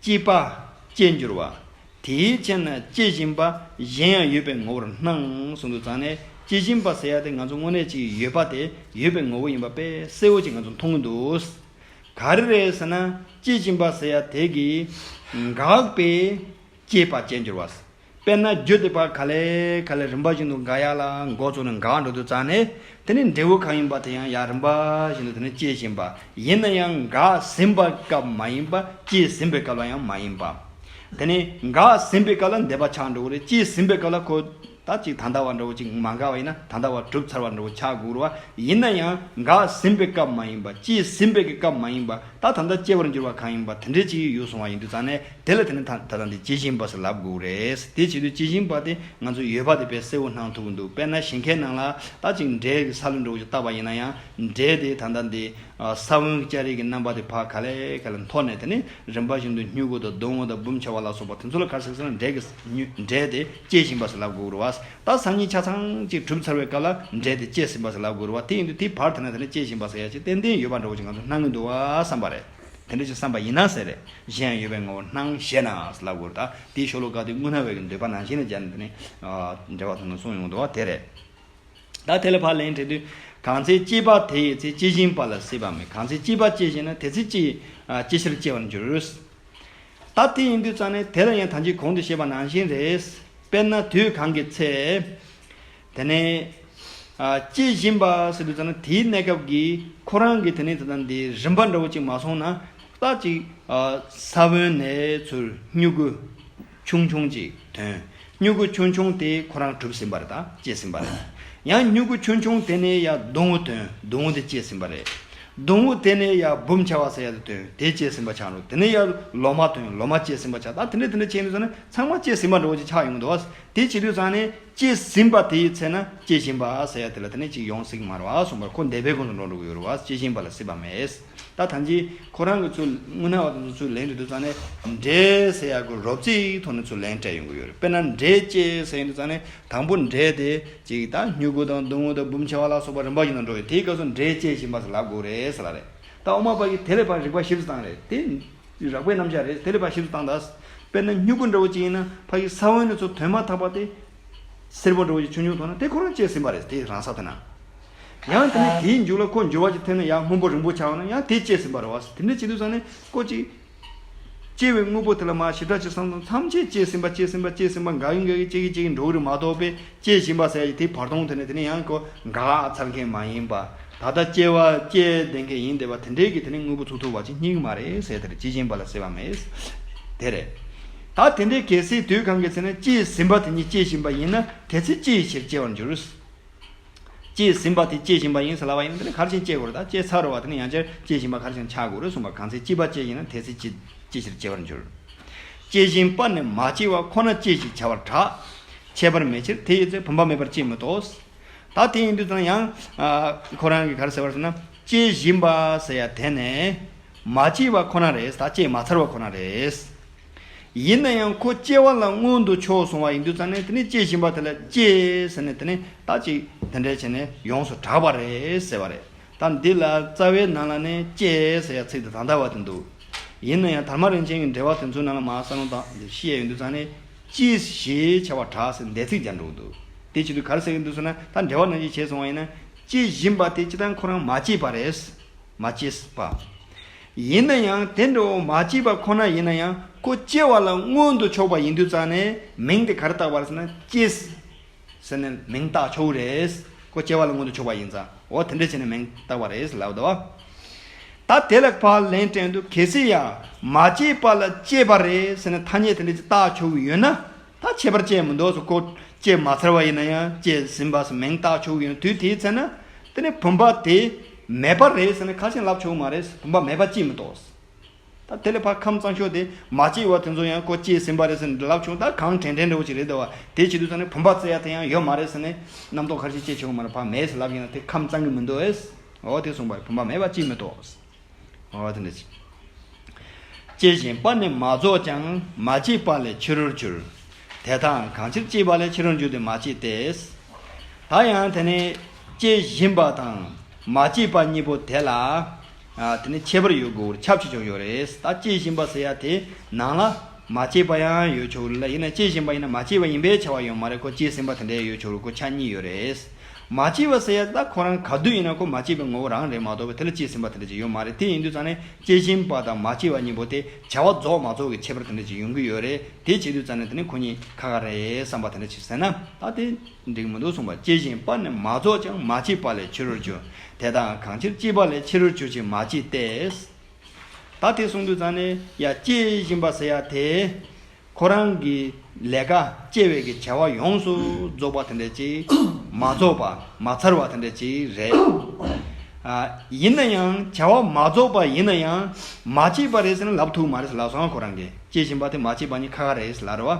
སྐྱེས་པ། སྐྱེས་འགྱུར་བ། དེའི་ཕྱིར་ན་སྐྱེ་བཞིན་པ་གཞན་ཡང་ཡོད་པའི་ངོ་བོར་སྣང་ཟུང་དུ་བརྫངས་ནས་སྐྱེ་བཞིན་པ་ཟེར་ཡ་དེ་ང་ཚོ་དངོས་གནས་ཅིག་ཡོད་པ་དེ་ཡོད་པའི་ངོ་བོ་ཡིན་པ་པས་གསལ་བོ་ཅིག་ང་ཚོ་མཐོང་གི་འདུག། ག་རེ་རེད་ཟེར་ན་སྐྱེ་བཞིན་པ་ཟེར་ཡ་དེ་གིས་འགགས་པའི་སྐྱེས་པ་སྐྱེས་འགྱུར་བ། དཔེར་ན་རྒྱུད་སྡེ་པར་ག་ལས་ག་ལས་རིམ་པ་བཞིན་དུ་འགའ་ཡག་ལ་འགོ་བཙུགས་ནས་འགའ་འགྲོ་དུས་གཙང་ནས་དེ་ནི་འབྲས་བུ་གང་ཡིན་པ་དེ་ཡང་ཡང་རིམ་པ་བཞིན་དུ་དེ་ནི་སྐྱེ་བཞིན་པ་ཡིན་ན་ཡང་འགའ་ཟིན་པ་སྐབས་མ་ཡིན་པ་སྐྱེས་ཟིན་པའི་སྐབས་ལ་ཡང་མ་ཡིན་པ། དེ་ནི་འགའ་ཟིན་པའི་སྐབས་ལ་འདས་པ་ཆགས་འགྲོ་བོ་རེད་སྐྱེས་ཟིན་པའི་སྐབས་ལ་ཁོ་ད་ཅིག་ད་ལྟ་བ་འདྲ་བོ་ཅིག་མ་འགའ་བ་ཡིན་ན་ད་ལྟ་བ་གྲུབ་ཚར་བ་འདྲ་བོ་ཆགས་དགོས་རུ་བ་ཡིན་ན་ཡང་འགའ་ཟིན་པའི་སྐབས་མ་ཡིན་པ་སྐྱེས་ཟིན་པའི་སྐབས་མ་ཡིན་པ་ད་ད་ལྟ་སྐྱེ་བར་འགྱུར་བ་གང་ཡིན་པ་དེ་འདྲའི་ཅིག་ཡོད་སོང་བ་ཡིན་དུས་གཙང་ནས། དེ་ལ་དེ་ནི་ད་ལྟ་འདི་ཅི་ཞིང་པ་སེ་ལབ་དགོས་རེད། དེ་བྱེད་དུས་ཅི་ཞིང་པ་དེ་ང་ཚོ་ཡོད་པ་དེ་དཔེ་གསལ་བོ་སྣང་ཐུབ་འདུག་དཔེར་ན་ཞིང་ཁའི་ནང་ལ་ད་ཅིག་འབྲས་ཀྱི་ས་ལུད་འགྲོ་ཆུ་བཏབ་པ་ཡིན་ན་ཡང་འབྲས་དེ་ད་ལྟ་འདི་ས་བོན་གྱི་ལྕགས་རིགས་ཀྱི་རྣམ་པ་དེ་བག་ག་ལེ་ག་ལེ་འཐོར་ནས་དེ་ནི་རིམ་པ་བཞིན་དུ་སྨྱུ་གུ་དང་སྡོང་བོ་དང་འབུམ་ཆེ་བ་ལ་སོགས་པ་དེ་ཚོ་ལ་གར་སྲེག་ཚར་ན་འབྲས་ཀྱི་འབྲས་དེ་སྐྱེས་ཞིང་པ་སེ་ལབ་དགོས་རུང་བ་ད་སང་ཉིན་ཆ་ཚང་ཅིག་གྲུབ་ཚར་བའི་སྐབས་ལ་འབྲས་དེ་སྐྱེས་ཟིན་པ་སེ་ལབ་དགོས་རུང་བ་དེ་ཡིན་དུས་དེའི་བར་དེ་ན་དེ་ནི་སྐྱེས་ཞིང་པ་སེ་ཡ་ཅིག་ཏན་ཏན་ཡོད་པ་འདྲ་བོ་ཅིག་ང་ཚོ་སྣང་གི་འདུག་བསམ་པ་རེད། དེ་འདྲ་ཞིག་བསམ་པ་ཡིན་ན་ཟེར། གཞན་ཡང་ཡོད་པའི་ངོ་བོར་སྣང་ཞེ་ན། ལ་བསྒོ་རུ་དག་དེའི་ཤོ་ལོ་ཀ་དེ་དངོས་སྣང་བའི་གི་འདོད་པ་ནང་བཞིན་ནི་སྦྱར་ནས་དེ་ནི། འབྲེལ་བ་མཐོང་དང་གསུང་ཡོང་དུ་བ་དེ་རེད། ད་དེ་ལ་བར་ལན་འཕྲད་དུས། གང་ཚེ་སྐྱེས་པ་དེ་ཡི་ཚེ་སྐྱེ་བཞིན་པ་ལ་སྲིད་པ་མེད་གང་ཚེ་སྐྱེས་པ་སྐྱེ་བཞིན་ན་དེ་ཚེ་སྐྱེ། སྐྱེ་ཕྱིར་སྐྱེ་བར་འགྱུར། ད་དེ་ཡིན་དུས་ཙང་ནི་དེ་ལ་ཡང་ཐམས་ཅད་གོང་དུ་བཤད་པ་ནང་བཞིན་རེད། དཔེར་ན་དུས་གང་གི་ཚེ། དེ་ནས། སྐྱེ་བཞིན་པ་ཟེར་དུས་ན་དེའི་གནས་སྐབས་ཀྱི་ཁོ་རང་གི་དེ་ནས་ད་ལྟ་འདི་རིམ་པ་འདྲ་བོ་ཅིག་མ་སོང་ན་ལྟ་ཅིག། ས་བོན་ནས་ཚུར་སྨྱུ་གུ་ཆུང་ཆུང་ཅིག་དོན། སྨྱུ་གུ་ཆུང་ཆུང་དེ་ཁོ་རང་གྲུབ་ཟིན་པ་རེད་ད་སྐྱེས་ཟིན་པ་རེད། ཡང་སྨྱུ་གུ་ཆུང་ཆུང་དེ་ནས་ཡང་སྡོང་བུ་དོན་སྡོང་བུ་དེ་སྐྱེས་ཟིན་པ་རེད། སྡོང་བུ་དེ་ནས་ཡང་འབུམ་བྱ་བ་ཟེར་ཡ་དེ་དོན་དེ་སྐྱེས་ཟིན་པ་ཆགས་འགྲོ་དེ་ནས་ཡང་ལོ་མ་དོན་ལོ་མ་སྐྱེས་ཟིན་པ་ཆགས་ད་དེ་འདྲ་དེ་འདྲ་བྱས་ནས་སོང་ན་ཚང་མ་སྐྱེས་ཟིན་པ་འདྲ་བོ་ཅིག་ཆགས་ཡོང་གི་འདུག་བ། དེ་བྱེད་དུས་ཚང་ནས། སྐྱེས་ཟིན་པ་དེའི་ཚེ་ན་སྐྱེ་བཞིན་པ་ཟེར་ཡ་དེ་ལ་དེ་ནས་ཅིག་ཡོང་ཟིག་མར་བ་གསུངས་པར་ཁོ་འདས་པའི་གོང་དུ་འགྲོ་འགྲོ་གི་ཡོད་རུ་བ་སྐྱེ་བཞིན་པ་ལ་སྲིད་པ་མེད། ད་ཐམས་ཅད་ཁོ་རང་གི་ཚུར་དངུལ་ན་བ་དེ་ཚོ་ཚུར་ལེན་རེད་འདུག་ཙང་ནས་འདྲེ་ཟེར་ཡ་གུ་རོབ་ཙིག་ཐོག་ནས་ཚུར་ལེན་སྤྲད་ཡོང་གི་ཡོད་རེད་དཔེར་ན་འདྲེ་སྐྱེ་ཟེར་ཡིན་འདུག་ཙང་ནས་དང་པོ་འདྲེ་དེ་ཅིག་ད་སྨྱུ་གུ་དང་དུང་དངུལ་དང་འབུམ་ཆེ་བ་ལ་སོགས་པ་རིམ་པར་ཡིན་ན་འགྲོ་ཡོད་དེའི་སྐབས་སུ་འདྲེ་སྐྱེ་བཞིན་པ་ཟེར་ལབ་དགོས་རེད་ཟེར་ལ་རེད་ད་འོ་མ་པ་གིས་དེ་ལས་པར་རིག་པ་ཞིབ་ཙང་རེད་དེ། རགས་པའི་རྣམ་གཞག་རེད། དེ་ལས་པ་ཞིབ་ཏུ་བཏང་དང། དཔེར་ན་སྨྱུ་གུ་འདྲ་བོ་ཅིག་ཡིན་ན་ཕ་ཡིས་ས་བོན་ནས་ཚུར་དོན་མ་ཐག་པ་དེ། སེར་པོ་འདྲ་བོ་ཅིག་ཆུང་ཆུང་མཐོང་ན་དེ་ཁོ་རང་བཅད་ཟིན་པ་རེད་དེ་རང་ས་དེ་ན། ཡང་དེ་ནས་དེའི་མཇུག་ལ་ཁོ་འགྱུར་བ་ཅིག་ཐེབས་ན་ཡང་སྔོན་པོ་རིང་པོ་ཆགས་ན་ཡང་དེ་བཅད་ཟིན་པ་རེད་བ། དེ་འདྲ་བྱེད་དུས་ཚང་ནས་ཀོ་ཅིག། བཅད་བའི་དངོས་པོ་དེ་ལ་མ་ཞིབ་ཕྲ་ཅིག་བསམ་ཚོ་མཚམས་ཆད་བཅད་ཟིན་པ་བཅད་ཟིན་པ་བཅད་ཟིན་པ་འགའ་གི་འགའ་གི་བཅད་གི་བཅད་གི་འགྲོ་གི་རེད་མ་གཏོགས་དཔེ་སྐྱེ་བཞིན་པ་ཟེར་དེ་བར་སྟོང་དེ་ནས་དེ་ནི་ཡང་གོ་འགགས་ཚར་མཁན་མ་ཡིན་པ། ད་ལྟ་སྐྱེ་བ་སྐྱེ་བསྡད་མཁན་ཡིན་བསྡད་པ་དེ་འདྲས་ཀྱི་དེ་ནི་དངོས་པོ་ཚུགས་ཐུབ་བ་ཅིག་སྙིང་མ་རེད་ཟེར་དེར་སྐྱེ་བཞིན་པ་ལ་ཟེར་བ་མེད། དེ་རེད། ད་དེ་འདྲས་གལ་སྲིད་དུས་གང་གི་ཚེ་ན་སྐྱེ་ཟིན་པ་དེ་ཉིད་སྐྱེ་བཞིན་པ་ཡིན་ན་དེ་ཚེ་ཅིའི་ཕྱིར་སྐྱེ་བར་འགྱུར། སྐྱེ་ཟིན་པ་དེ་སྐྱེ་བཞིན་པ་ཡིན་ཟེར་ལབ་པ་ཡིན་ན་དེ་ནི་གར་བཞིན་སྐྱེ་དགོས་རེད་ད་སྐྱེ་ཚར་བ་དེ་ནི་ཡང་བསྐྱར་སྐྱེ་བཞིན་པ་གར་བཞིན་ཆགས་དགོས་རེད་གསུངས་པ་གང་ཚེ་སྐྱིད་པ་སྐྱེ་ཡིན་ན་དེ་ཚེ་ཅིའི་ཕྱིར་སྐྱེ་བར་འགྱུར། སྐྱེ་ཞིང་སྤར་ནས་མ་སྐྱེས་བ་ཁོ་ན་སྐྱེས་ཞེས་བྱ་བར་གྲགས། ཁྱད་པར་མེད་ཕྱིར་དེ་ཡོད་ཚད་བུམ་པ་མེད་པར་སྐྱེས་མོད་དོ། ད་དེ་ཡིན་དུས་ཙང་ཡང། ཁོ་རང་གིས་གར་ཟེར་བར་ཟེར་ན། སྐྱེ་བཞིན་པ་ཟེར་ཡ་དེ་ནི། མ་སྐྱེས་བ་ཁོ་ན་རེད་ད་སྐྱེས་མ་ཚར་བ་ཁོ་ན་རེད། ཡིན་ན་ཡང་ཁོ་སྐྱེ་བ་ལ་མངོན་དུ་ཕྱོགས་སོང་བ་ཡིན་དུས་ཙང་ནས་དེ་ནི་སྐྱེ་བཞིན་པ་དེ་ལ་སྐྱེས་ཟེར་ནས་དེ་ནི་ད་ཅིག་དེ་འདྲས་བྱས་ནས་ཡོངས་སུ་གྲགས་པ་རེད་ཟེར་བ་རེད། དང་འདི་ལ་རྩ་བའི་ནང་ལ་ནས་སྐྱེས་ཟེར་ཡ་ཚིག་དེ་དང་འདྲ་བ་དེ་འདུག་ཡིན་ན་ཡང་དར་མ་རིན་ཆེན་གྱི་འགྲེལ་བ་དེ་ཚོའི་ནང་ལ་མ་ས་ནོ་དང་འདི་ཤི་ཡ་ཡོད་འདུག་ཚང་ནས་ཅིས་ཞེས་བྱ་བར་གྲགས་ཟེར་འདས་ཚིག་སྦྱར་འདུག་འདུག་དེ་བྱེད་དུ་གར་ཟེར་གྱི་འདུག་ཟེར་ན་ད་འགྲེལ་བ་ནང་བཞིན་བྱས་སོང་བ་ཡིན་ན་ཅི་བཞིན་པ་དེ་ཅི་ལྟར་ཁོ་རང་མ་སྐྱེས་པ་རེད། མ་སྐྱེས་པ། ཡིན་ན་ཡང་དེ་འདྲ་བོ་མ་སྐྱེས་པ་ཁོ་ན་ཡིན་ན་ཡང་ཁོ་སྐྱེ་བ་ལ་མངོན་དུ་ཕྱོགས་པ་ཡིན་དུས་ཚང་ནས་མིང་དེ་གར་བཏགས་པར་ཟེར་ན་ཅིས་ཟེར་ནས་མིང་བཏགས་ཆོག་གི་རེད། ཁོ་སྐྱེ་བ་ལ་མངོན་དུ་ཕྱོགས་པ་ཡིན་ཙང་འོ་དེ་འདྲས་བྱས་ནས་མིང་བཏགས་པ་རེད་ལབ་དོ། ད་དེ་ལ་ཕ་ལན་སྤྲད་འདུག་གལ་སྲིད་ཡ་མ་སྐྱེས་པ་ལ་སྐྱེས་པ་རེད་ཟེར་ནས་ཐ་སྙད་དེ་འདྲས་ཅིག་བཏགས་ཆོག་གི་ཡོད་ན། ད་ཁྱད་པར་སྐྱེས་མི་འདུག་སོགས་ཁོ་སྐྱེས་མ་ཚར་བ་ཡིན་ན་ཡང་སྐྱེས་ཟིན་པ་སོགས་མིང་བཏགས་ཆོག་གི་ཡོད་དུས་དེའི་ཚེ་ན། དེ་ནི་བུམ་པ་དེ་མེད་པ་རེད་ཟེར་ནས་ཁ་ཞེ་ལབ་ཆོག་གི་མ་རེད། བུམ་པ་མེད་པ་སྐྱེས་མི་འདུག། ད་དེ་ལས་ཕ་ཁམས་གཙང་ཤོས་དེ་མ་སྐྱེས་བར་དེ་ཚོ་ཡང་ཀོ་སྐྱེས་ཟིན་པ་རེད་ཟེར་ནས་ལབ་བྱུང་ད་གང་དྲན་དྲན་རེ་བོ་ཅིག་རེད་བ་དེ་བྱེད་དུས་ཚང་ནས་བུམ་པ་བཙལ་ཡ་དེ་ཡང་ཡོད་མ་རེད་ཟེར་ནས་རྣམ་རྟོག་ཁར་ཤི་སྐྱེས་བྱུང་བ་མ་རེད་ཕ་མེས་ལབ་ཀྱིན་ན་དེ་ཁམས་གཙང་གི་མི་འདུག་ཨེ་ཨོ་དེ་གསུངས་པ་རེད་བུམ་པ་མེད་པ་ཅིས་མི་རྟོག་ཨོ་དེ་འདྲ་ཅིག་སྐྱེས་བཞིན་པ་ནི་མ་རྫོགས་ཀྱང་མ་སྐྱེས་པ་ལས་ཕྱི་རོལ་འགྱུར། དེ་དག་གང་ཕྱིར་སྐྱེས་པ་ལས་ཕྱི་རོལ་འགྱུར་ཏེ་མ་སྐྱེས་ཏེ། ད་ཡང་དེ་ནི་སྐྱེས་བཞིན་པ་དང་མ་སྐྱེས་པ་གཉིས་པོ་དེ་ལ། དེ་ནི་ཁྱད་པར་ཡོད་དགུ་བོར་ཁྱབ་བྱེད་ཆོག་ཡོད་རེད་ད་སྐྱེས་བཞིན་པ་ཟེར་ཡ་དེ་ནང་ལ་མ་སྐྱེས་པ་ཡང་ཡོད་ཆོག་རེད་ལ་ཡིན་ན་སྐྱེས་བཞིན་པ་ཡིན་ན་མ་སྐྱེས་པ་ཡིན་པའི་ཆ་བ་ཡོད་མ་རེད་ཁོ་སྐྱེས་ཟིན་པ་དེ་འདྲའི་ཡོད་ཆོག་རེད་ཁོ་ཆ་གཉིས་ཡོད་རེད། མ་སྐྱེས་པ་ཟེར་ཡ་དེ་ད་ཁོ་རང་ག་དུས་ཡིན་ན་ཁོ་མ་སྐྱེས་པའི་ངོ་བོ་རང་རེད་མ་གཏོགས་པའི་དེ་ལ་སྐྱེས་ཟིན་པ་དེ་འདྲ་ཅིག་ཡོད་མ་རེད་དེ་ཡིན་དུས་ཙང་ནས་སྐྱེས་བཞིན་པ་དང་མ་སྐྱེས་པ་གཉིས་པོ་དེ་བྱ་བ་རྫོགས་མ་རྫོགས་ཀྱི་ཁྱད་པར་དེ་འདྲ་ཅིག་ཡོང་གི་ཡོད་རེད་དེ་བྱེད་དུས་ཙང་ནས་དེ་ནི་ཁོ་གཉིས་ཁ་ཁ་རེད་བསམ་པ་དེ་འདྲ་ཅིག་ཟེར་ན་ད་དེ། འགྲིག་མི་འདུག་གསུངས་པ་སྐྱེ་བཞིན་པ་ནི་མ་རྫོགས་ཀྱང་མ་སྐྱེས་པ་ལས་ཕྱི་རོལ་གྱུར། དེ་དག་གང་ཕྱིར་སྐྱེས་པ་ལས་ཕྱི་རོལ་གྱུར་ཅིང་མ་སྐྱེས་ཏེ། ད་དེ་གསུངས་དུས་ཙང་ནས་ཡ་སྐྱེ་བཞིན་པ་ཟེར་ཡ་དེས། ཁོ་རང་གི་ལས་ཀ་སྐྱེ་བའི་གི་བྱ་བ་ཡོངས་སུ་རྫོགས་པ་དེ་འདྲ་ཅིག་མ་རྫོགས་པ་མ་ཚར་བ་དེ་འདྲ་ཅིག་རེད། ཡིན་ན་ཡང་བྱ་བ་མ་རྫོགས་པ་ཡིན་ན་ཡང་མ་སྐྱེས་པ་རེད་ཟེར་ན་ལབ་ཐུག་མ་རེད་ལབ་སོང་ང་ཁོ་རང་གི་སྐྱེ་བཞིན་པ་དེ་མ་སྐྱེས་པ་ནི་ཁ་ཁ་རེད་ལབ་རེད་བ།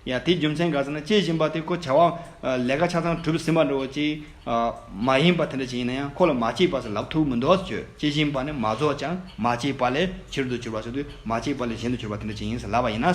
ཡང་དེའི་རྒྱུ་མཚན་ག་ཚད་ན་སྐྱེ་བཞིན་པ་དེ་ཁོ་བྱ་བ་ལས་ཀ་ཆ་ཚང་གྲུབ་ཟིན་པ་འགྲོ་བ་ཅིག་མ་ཡིན་པ་དེ་འདྲ་ཞིག་ཡིན་ན་ཡང་ཁོ་ལ་མ་སྐྱེས་པ་སོགས་ལབ་ཐུབ་མི་འདུག་ཟེར་བྱོས་སྐྱེ་བཞིན་པ་ནི་མ་རྫོགས་ཀྱང་མ་སྐྱེས་པ་ལས་ཕྱིར་དུ་གྱུར་པ་སོགས་དུས་མ་སྐྱེས་པ་ལས་གཞན་དུ་གྱུར་པ་དེ་འདྲ་ཞིག་ཡིན་ཟེར་ལབ་པ་ཡིན་ན།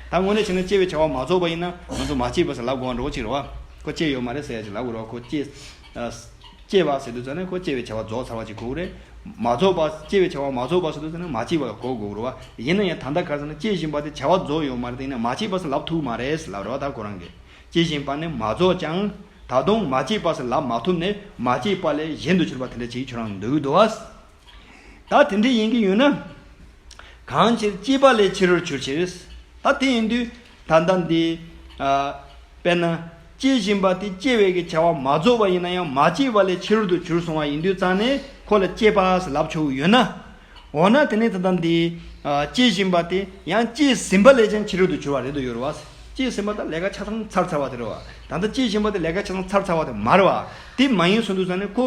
ད་དངོས་གནས་བྱས་ན་སྐྱེ་བའི་བྱ་བ་མ་རྫོགས་པ་ཡིན་ན་ང་ཚོ་མ་སྐྱེས་པ་སོགས་ལབ་དགོས་པ་འགྲོ་བ་ཅིག་རེད་བ། ཁོ་སྐྱེས་ཡོད་མ་རེད་ཟེར་ཡ་ཅིག་ལབ་དགོས་རེད་བ་ཁོ་སྐྱེས། སྐྱེ་བ་ཟེར་དུས་ཙང་ནི་ཁོ་སྐྱེ་བའི་བྱ་བ་རྫོགས་ཚར་བ་ཅིག་གོ་དགོས་རེད། མ་རྫོགས་པ། སྐྱེ་བའི་བྱ་བ་མ་རྫོགས་པ་ཟེར་དུས་ཙང་ནི་མ་སྐྱེས་པ་ལ་གོ་དགོས་རོ། ཡིན་ན་ཡང་ད་ལྟ་ག་ཚང་ན་སྐྱེ་བཞིན་པ་དེ་བྱ་བ་རྫོགས་ཡོད་མ་རེད་དེ་ནི་མ་སྐྱེས་པ་སུ་ལབ་ཐུབ་མ་རེད་ལབ་རེད་བ་ད་ཁོ་རང་གིས། སྐྱེ་བཞིན་པ་ནི་མ་རྫོགས་ཀྱང། ད་དུང་མ་སྐྱེས་པ་སུ་ལབ་མ་ཐུབ་ནི་མ་སྐྱེས་པ་ལས་གཞན་དུ་གྱུར་པ་དེ་འདྲ་ཅིག་ཁྱོད་རང་འདུག་འདུག་ཨ། ད་དེ་འདྲས་ཡིན་གྱི་ཡོད་ན། གང་ཕྱིར་སྐྱེས་པ་ལས་ཕྱི་རོལ་ཆོས་ཕྱིར། ད་དེ་ཡིན་དུས་ད་ལྟ་འདི། དཔེར་ན། སྐྱེ་བཞིན་པ་དེ་སྐྱེ་བའི་གི་བྱ་བ་མ་རྫོགས་པ་ཡིན་ན་ཡང་མ་སྐྱེས་པ་ལས་ཕྱི་རོལ་དུ་གྱུར་སོང་བ་ཡིན་དུས་རྩ་ནས་ཁོ་ལ་སྐྱེས་པ་ཞེས་ལབ་ཆོག་གི་ཡོད་ན། འོ་ན་དེ་ནི་ད་ལྟ་འདི། སྐྱེ་བཞིན་པ་དེ་ཡང་སྐྱེས་ཟིན་པ་ལས་ཀྱང་ཕྱི་རོལ་དུ་གྱུར་བ་རེད་དོ་ཡོད་རེད་བ། སྐྱེས་ཟིན་པ་ད་ལས་ཀ་ཆ་ཚང་ཚར་ཚར་བ་དེ་རེད་བ། ད་ལྟ་སྐྱེས་བཞིན་པ་དེ་ལས་ཀ་ཆ་ཚང་ཚར་ཚར་བ་དེ་མ་རེད་བ། དེ་མ་ཡིན་སོང་དུས་རྩ་ནས་ཁོ།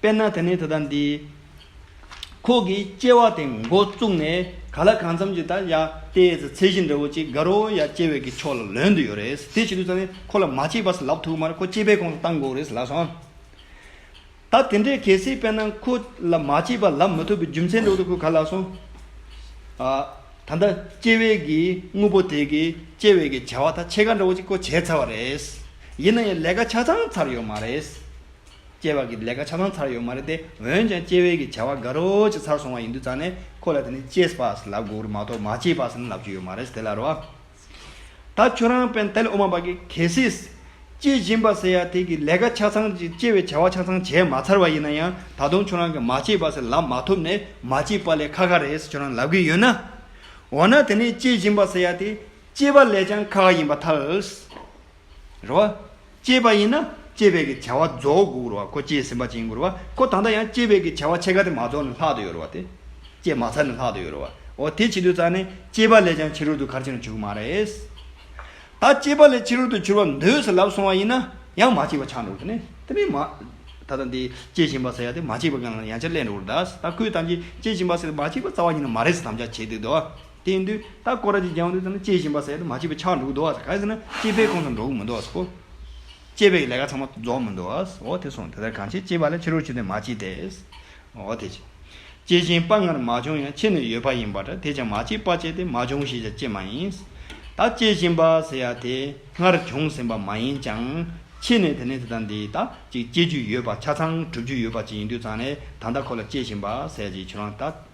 དཔེར་ན་དེ་ནི་ད་ལྟ་འདི། ཁོག་གི་སྐྱེ་བ་དེ་མགོ་བཙུགས་ནས་ག་ལ་གང་འཚམ་གྱི་ད་ཡ་ཏའི་ཚད་གཞི་འདྲ་བོ་ཅིག་དགའ་རོགས་ཡ་སྐྱེ་བའི་གི་ཕྱོགས་ལ་ལོན་དུ་ཡོད་རེད། དེ་བྱེད་དུས་ཙང་ནི་ཁོ་ལ་མ་སྐྱེས་པ་སུ་ལབ་ཐུག་མར་ཁོ་སྐྱེས་པའི་ཁོངས་སུ་གཏང་དགོས་རེད་ལབ་སོང། ད་དེ་འདྲའི་གལ་སྲིད་དཔེར་ན་ཁོ་ལ་མ་སྐྱེས་པ་ལབ་མི་ཐུབ་པའི་རྒྱུ་མཚན་འདྲ་བོ་དེ་ཁོས་ག་ལ་ལབ་སོང། ད་ལྟ་སྐྱེ་བའི་གི་དངོས་པོ་དེ་གི་སྐྱེ་བའི་གི་བྱ་བ་ད་ཕྱེད་ཀ་འདྲ་བོ་ཅིག་ཁོ་བྱས་ཚར་བ་རེད། ཡིན་ན་ཡང་ལས་ཀ་ཆ་ཚང་ཚར་ཡོད་མ་རེད། སྐྱེ་བ་གི་ལས་ཀ་ཆ་ཚང་ཚར་ཡོད་མ་རེད་དེ་འོན་ཀྱང་སྐྱེ་བའི་གི་བྱ་བ་འགའ་རོ་ཅིག་ཚར་སོང་བ་ཡིན་དུས་ཙང་ནས་ཁོ་ལ་དེ་ནི་སྐྱེས་པས་ལབ་དགོས་རུ་མ་གཏོགས་མ་སྐྱེས་པས་ནི་ལབ་རྒྱུ་ཡོད་མ་རེད་དེ་ལ་རོ། ད་ཁྱོད་རང་པན་ཏེ་ལ་ཨོ་མ་པ་གི་གལ་སྲིད། སྐྱེས་བཞིན་པ་ཟེར་ཡ་དེ་གི་ལས་ཀ་ཆ་ཚང་ཅིག་སྐྱེ་བའི་བྱ་བ་ཆ་ཚང་བྱས་མ་ཚར་བ་ཡིན་ན་ཡང་ད་དུང་ཁྱོད་རང་གི་མ་སྐྱེས་པས་ལབ་མ་ཐུབ་ནས་མ་སྐྱེས་པ་ལས་ཁ་ཁ་རེད་ཟེར་ཁྱོད་རང་ལབ་གི་ཡོད་ན། འོ་ན་དེ་ནི་སྐྱེས་བཞིན་པ་ཟེར་ཡ་དེ་སྐྱེས་པ་ལས་ཀྱང་ཁ་ཁ་ཡིན་པ་ཐལ། རེ་བ། སྐྱེས་པ་ཡིན་ན་སྐྱེས་པའི་གི་བྱ་བ་རྫོགས་དགུག་རོ་བ་ཀོ་སྐྱེས་ཟིན་པ་བྱིན་དགུར་བ་ཀོ་ད་ལྟ་ཡང་སྐྱེས་པའི་གི་བྱ་བ་ཕྱེད་ཀ་དེ་མ་རྫོགས་ནས་ལྷག་ཏུ་ཡོད་རོ་བ་སྟེ། སྐྱེས་མ་ཚར་ནས་ལྷག་ཏུ་ཡོད་རོ་བ་འོ་དེ་བྱེད་དུས་རྩ་ནས་སྐྱེས་པ་ལས་ཀྱང་ཕྱི་རོལ་དུ་གར་ཕྱིན་ན་འཇུག་མ་རེད། ད་སྐྱེས་པ་ལས་ཕྱི་རོལ་དུ་འཕྱུར་བ་འདོད་ཟེར་ལབ་སོང་བ་ཡིན་ན་ཡང་མ་སྐྱེས་པ་ཆགས་འགྲོ་རུ་ནི་དེ་ནི་མ། ད་ལྟ་འདི་སྐྱེས་བཞིན་པ་ཟེར་ཡ་དེ་མ་སྐྱེས་པ་གང་ལ་ཡང་ཆ་གླན་འགྲོ་རུ་གདའ། ད་ཁོས་ཐམས་ཅད་སྐྱེས་བཞིན་པ་ཟེར་དེ་མ་སྐྱེས་པ་རྩ་བ་ཉིད་ན་མ་རེད་ཟེར་དམ་བཅའ་བྱེད་འདུག་དོ། དེ་འདུལ་ད་ཀོ་ར་ཅིག་རྒྱང་འདུལ་ཙམ་ནི་སྐྱེ་བཞིན་པ་ཟད་དུ་མ་སྐྱེས་པའི་ཆར་འདུག་འདོགས་ཟེར་ག་ཟེར་ན་སྐྱེས་པའི་ཁོངས་སུ་འདོགས་མི་འདོགས་སོ། སྐྱེས་པའི་ལས་ཀ་ཚང་མ་རྫོགས་མི་འདོགས་ཨོ་དེ་སོང་དེ་ལྟར་གང་བྱེད་སྐྱེས་པ་ལས་ཕྱི་རོལ་ཆུ་དེ་མ་སྐྱེས་ཏེ། ཨོ་དེ་ཅི། སྐྱེས་ཤིང་དཔའ་སྔར་མ་བྱུང་ཡང་ཕྱི་ནས་ཡོད་པ་ཡིན་པ་འདྲ་དེས་ཀྱང་མ་སྐྱེས་དཔའ་སྐྱེས་ཏེ་མ་བྱུང་ཞེས་ཀྱང་བསྐྱེད་མ་ཡིན། ད་སྐྱེས་བཞིན་པ་ཟེར་ཡ་དེ་སྔར་བྱུང་ཟིན་པ་མ་ཡིན་ཀྱང། ཕྱི་ནས་དེ་ནི་དེ་དང་འདིའི་ད་ཅིག་སྐྱེ་རྒྱུ་ཡོད་པ་ཆ་ཚང་གྲུབ་རྒྱུ་ཡོད་པ་ཅིག་ཡིན་དུས་ཙང་ནས་ད་ལྟ་ཁོ་ལ་སྐྱེས་བཞིན་པ་ཟེར་ཅིག་ཁྱོད་རང་ད།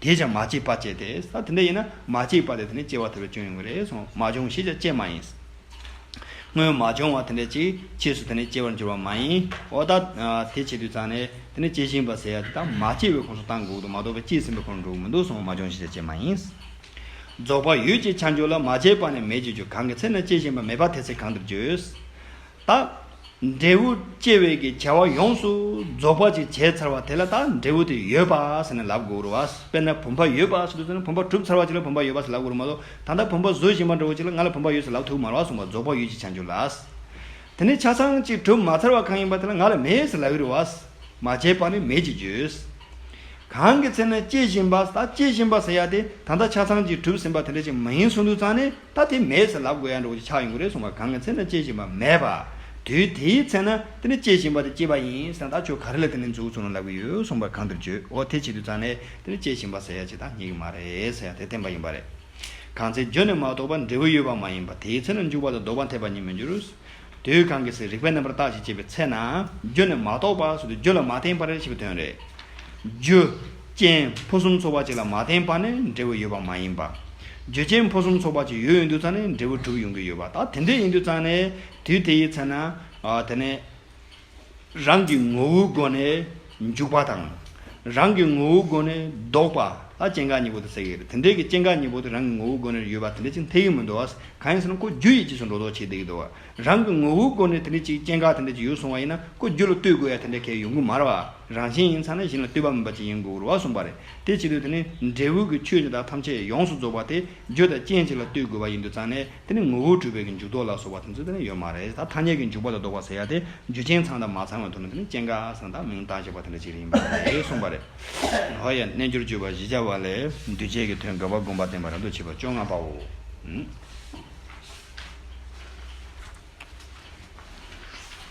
དེས་ཀྱང་མ་སྐྱེས་པ་བསྐྱེད་དེ། ད་དེ་འདྲ་ཡིན་ན་མ་སྐྱེས་པ་དེ་དེ་ནས་སྐྱེ་བ་ཐོབ་པའི་སྐྱོན་ཡོང་གི་རེད་གསུངས། མ་བྱུང་ཞེས་ཀྱང་བཅས་མ་ཡིན། སྔོན་མ་བྱུང་བ་དེ་འདྲའི་ཅིག་ཅེས་སུ་དེ་ནས་སྐྱེ་བར་འགྱུར་བ་མ་ཡིན། འོ་ད་དེ་བྱེད་དུས་ཙང་ནས་དེ་ནས་སྐྱེ་བཞིན་པ་ཟེར་ཡ་དེ་དག་མ་སྐྱེས་པའི་ཁོངས་སུ་གཏང་དགོས་ཀྱི་འདུག་མ་གཏོགས་པའི་སྐྱེས་ཟིན་པའི་ཁོངས་འགྲོ་གི་མི་འདུག་གསུངས། མ་བྱུང་ཞེས་ཀྱང་བཅས་མ་ཡིན། རྫོགས་པ་ཡོད་ཅེས་བྱ་འགྱུར་ལ་མ་སྐྱེས་པ་ནས་མེད་ཅེས་བརྗོད་གང་གི་ཚེ་ན་སྐྱེ་བཞིན་པ་མེད་པ་དེ་ཚེ་གང་འདིར་བརྗོད། དང། འབྲས་བུ་སྐྱེ་བའི་གི་བྱ་བ་ཡོངས་སུ་རྫོགས་པ་ཅིག་བྱས་ཚར་བ་དེ་ལ་དག་འབྲས་བུ་དེ་ཡོད་པ་ཟེར་ནས་ལབ་དགོས་རུ་བ་དཔེར་ན་བུམ་པ་ཡོད་པ་ཟེར་དུས་ན་བུམ་པ་གྲུབ་ཚར་བ་ཅིག་ལ་བུམ་པ་ཡོད་པ་ཟེར་ལབ་དགོས་རུ་མ་གཏོགས་ད་ལྟ་བུམ་པ་བཟོ་བཞིན་པ་འདྲ་བོ་ཅིག་ལ་ང་ལ་བུམ་པ་ཡོད་ཟེར་ལབ་ཐུག་མར་བ་གསུངས་པ་རྫོགས་པ་ཡོད་ཅིག་བྱ་འགྱུར་ལ། དེ་ནས་ཆ་ཚང་ཅིག་གྲུབ་མ་ཚར་བ་གང་ཡིན་པ་དེ་ལ་ང་ལ་མེད་ཟེར་ལབ་ཡི་རུ་བ། མ་བྱས་པ་ནི་མེད་ཅིག་བརྗོད། གང་གི་ཚེ་ན་སྐྱེ་བཞིན་པ་ད་སྐྱེ་བཞིན་པ་ཟེར་ཡ་དེ་ད་ལྟ་ཆ་ཚང་ཅིག་གྲུབ་ཟིན་པ་དེ་འདྲ་ཅིག་མ་ཡིན་གསུངས་དུས་ཙང་ནས། ད་དེ་མེད་ཟེར་ལབ་དགོས་ཡ་འགྲོ་གོ་ཆ་ཆག་ཡོང་གི་རེད་གསུངས་པ་གང་གི་ཚེ་ན་སྐྱེས་བཞིན་པ་མེད་པ། དུས་དེའི་ཚེ་ན་དེ་ནི་སྐྱེས་བཞིན་པ་དེ་སྐྱེས་པ་ཡིན་ཟེར་ན་ད་ཁྱོད་ག་རེ་ལ་དེ་ནི་འཛུགས་ཚུགས་ན་ལབ་གི་ཡོད་གསུངས་པ་གང་འདིར་བརྗོད་འོ་དེ་བྱེད་དུས་ཙང་ནས་དེ་ནི་སྐྱེས་བཞིན་པ་ཟེར་ཡ་བྱེད་སྟངས་ཉིད་ཀྱི་མ་རེད་ཟེར་ཡ་དེ་བསྟན་པ་ཡིན་པ་རེད། གང་ཚེ་བརྗོད་ནས་མ་རྟོགས་པར་འབྲས་བུ་ཡོད་པ་མ་ཡིན་པ་དེའི་ཚེ་ན་འཇུག་པ་དང་ལྡོག་པ་འཐད་པ་ཉིད་མི་འགྱུར། དུས་གང་གི་ཚེ་རིག་པའི་རྣམ་པར་བརྟགས་ཞེས་བྱེད་པའི་ཚེ་ན་རྒྱུ་ནི་མ་གཏོགས་པ་སོགས་ཀྱི་རྒྱུ་ལ་མ་བརྟེན་པར་ཞེས་པའི་དོན་རེད། རྒྱུ། རྐྱེན། ཕུན་སུམ་ཚོགས་པ་གཅིག་ལ་མ་བརྟེན་པ་ནི་འབྲས་བུ་ཡོད་པ་མ་ཡིན་པ། རྒྱུ་རྐྱེན་ཕུན་སུམ་ཚོགས་པ་གཅིག་ཡོད་ཡིན་དུས་ཙང་ནས་འབྲས་བུ་གྲུབ་ཡོང་གི་ཡོད་པ་ད་དེ་འདྲ་ཡིན་དུས་ཙང་ནས་དུས་དེའི་ཚེ་ན་དེ་ནི། རང་གི་ངོ་བོའི་སྒོ་ནས་འཇུག་པ་དང། རང་གི་ངོ་བོའི་སྒོ་ནས་ལྡོག་པ་ལ་སྐྱེ་འགག་གཉིས་པོ་དུ་ཟེར་གྱི་རེད། དེ་འདྲའི་གི་སྐྱེ་འགག་གཉིས་པོ་དེ་རང་གི་ངོ་བོའི་སྒོ་ནས་ཡོད་པ་དེ་འདྲའི་ཅིག་འཐད་ཀྱི་མི་འདུག་ཨ། གང་ཡིན་ཟེར་ན་ཀོ་རྒྱུ་ཡི་རྗེས་སུ་འགྲོ་ལྡོག་བྱེད་བསྡད་ཀྱི་འདུག་ཨ། རང་གི་ངོ་བོའི་སྒོ་ནས་དེ་འདྲའི་ཅིག་སྐྱེ་འགག་དེ་འདྲ་ཅིག་ཡོད་སོང་བ་ཡིན་ན་ཀོ་རྒྱུ་ལ་ལྟོས་དགོས་ཡ་དེ་འདྲའི་གལ་ཡོང་གི་མ་རེད་བ། རང་བཞིན་ཡིན་ཚ་ན་གཞན་ལ་ལྟོས་པ་མིན་པ་ཅིག་ཡིན་དགོས་རུ་བ་གསུངས་པ་རེད། དེ་བྱེད་དུས་དེ་ནི་འབྲས་བུ་གི་ཆོས་འདི་དག་ཐམས་ཅད་ཡོངས་སུ་རྫོགས་པ་དེ་རྒྱུ་དང་རྐྱེན་གཅིག་ལ་ལྟོས་དགོས་པ་ཡིན་འདུག་ཙང་ནས་དེ་ནི་ངོ་བོ་གྲུབ་པའི་གི་འཇུག་ལྡོག་ལ་སོགས་པ་དེ་ཚོ་དེ་ནི་ཡོད་མ་རེད་ད་ཐ་སྙད་ཀྱི་འཇུག་པ་ལ་ལྡོག་པ་ཟེར་ཡ་དེ་རྒྱུ་རྐྱེན་ཚང་དང་མ་ཚང་བའི་ཐོག་ནས་དེ་ནི་རྐྱེན་འགའ་ཚང་དང་མིང་བཏགས་བྱས་པ་དེ་འདྲ་ཅིག་རེད་ཡིན་པ་རེད་གསུངས་པ་རེད། ཧོ་ཡ་རྣལ་འབྱོར་བཅུ་པ་བཞི་བྱ་བ་ལས་འདུས་བྱས་ཀྱི་དོན་དགེ་བ་བསྒོམ་པ་བསྟན་པ་རབ་ཏུ་ཕྱེ་བ་བཅོ་ལྔ་པའོ།